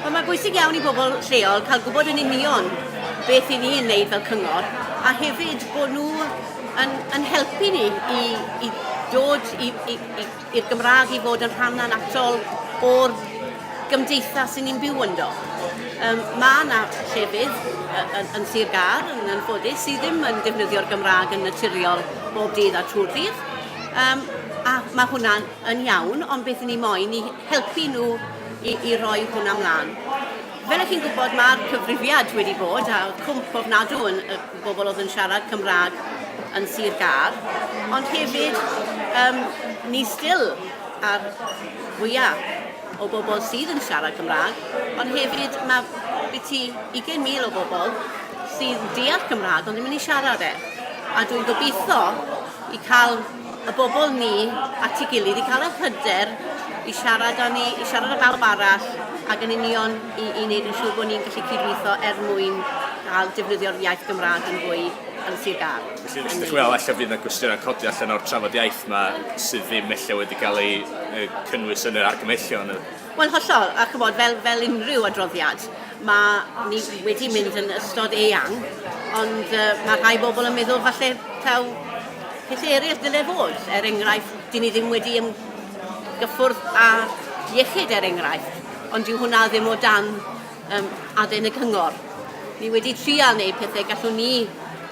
Wel, mae'n bwysig iawn i bobl lleol cael gwybod yn union beth i ni yn wneud fel cyngor, a hefyd bod nhw yn, yn helpu ni i, i dod i'r Gymraeg i fod yn rhan annatol o'r gymdeithas sy'n ni'n byw ynddo. Um, mae yna llefydd yn, yn Sir Gar, yn anffodus, sydd ddim yn defnyddio'r Gymraeg yn naturiol bob dydd a trwy'r dydd. Um, a mae hwnna'n yn iawn, ond beth ni moyn i helpu nhw i, i roi hwnna mlaen. Fel ych chi'n gwybod, mae'r cyfrifiad wedi bod a cwmp ofnadw yn y bobl oedd yn siarad Cymraeg yn Sir Gar, ond hefyd um, ni still ar fwyaf o bobl sydd yn siarad Cymraeg, ond hefyd mae byti 20,000 o bobl sydd deall Cymraeg ond ddim yn ei siarad e. A dwi'n gobeithio i cael y bobl ni at ei gilydd i cael yr hyder i siarad â ni, i siarad â bawb arall ac yn union i, i wneud yn siŵr bod ni'n gallu cydweithio er mwyn cael defnyddio'r iaith Gymraeg yn fwy yn Sir Gâr. Felly, ydych chi'n meddwl efallai fydd yna gwestiynau'n codi allan o'r trafod iaith yma sydd ddim efallai wedi cael ei cynnwys yn yr argymellion? Wel, hollol, a chymod, fel, fel unrhyw adroddiad, mae ni wedi mynd yn ystod eang, ond uh, mae rhai bobl yn meddwl falle taw Pethau eraill ddylai fod, er enghraifft, dyn ni ddim wedi ymgyffwrdd â iechyd er enghraifft, ond dyw hwnna ddim o dan um, aden y cyngor. Ni wedi trial wneud pethau gallwn ni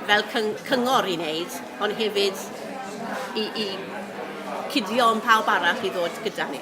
fel cyngor i wneud, ond hefyd i, i cuddio yn pawb arall i ddod gyda ni.